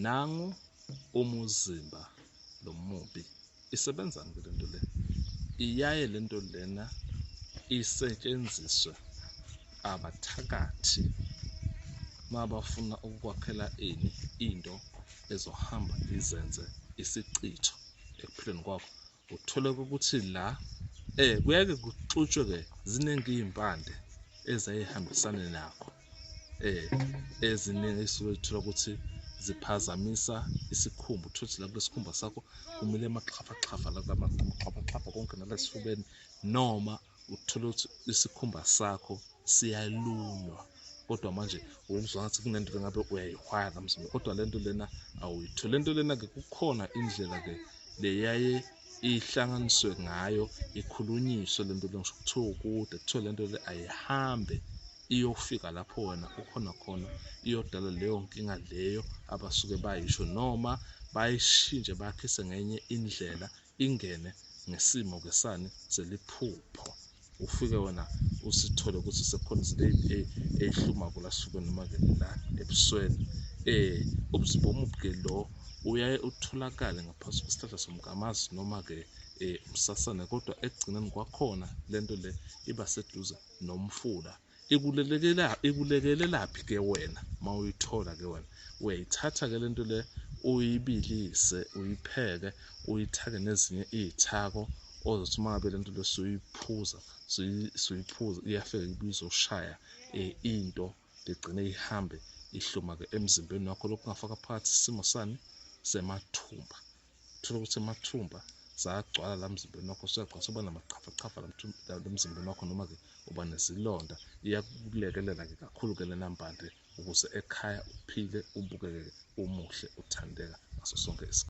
nangu umuzimba lo mubi isebenzani ke lento le iyaye lento lena isetshenziswe abathakathi mabafuna ukukwakhela ini into ezohamba izenze isichitho ekuphileni kwakho Uthole ukuthi la eh kuyake kuxutshwe ke ziningi izimpande ezayihambisana nakho eh eziningi isuke ithola ukuthi ziphazamisa isikhumba uthothi la kwesikhumba sakho kumile amaxhafaxhafa la kwamaxhafaxhafa konke nalasifubeni noma uthole ukuthi isikhumba sakho siyalunywa kodwa manje wenzwa ngathi kunento engabe uyayihwaya kamzimba kodwa lento lena awuyithole lento lena ke kukhona indlela ke leyaye ihlanganiswe ngayo ikhulunyiswe lento lengisho kuthiwa ukude kuthiwa lento le ayihambe iyofika lapho wena ukhona khona iyodala leyo nkinga leyo abasuke bayisho noma bayishintshe bakhise ngenye indlela ingene ngesimo ke sani seliphupho ufike wena usithole ukuthi sekukhona izinto eyihluma kula suke noma ke la ebusweni eh ubuzimba omubuke lo uyaye utholakale ngaphansi kwesihlahla somgamazi noma ke eh umsasane kodwa ekugcineni kwakhona lento le iba seduze nomfula ikulelekela ikulekelelaphi ke wena mawuyithola ke wena uyayithatha ke lento le uyibilise uyipheke uyithake nezinye izithako ozothi uma ngabe lento lesuyiphuza suyiphuza iyafika ibizo ushaya eh, into ligcine ihambe ihluma ke emzimbeni wakho lokungafaka phakathi isimo sani semathumba Thola ukuthi amathumba sagcwala la mzimbeni wakho suyagcwala soba namachafachafa la emzimbeni wakho noma-ke uba nezilonda iyakulekelela-ke kakhulu-ke lena mpande ukuze ekhaya uphile ubukeke umuhle uthandeka ngaso sonke isikhathi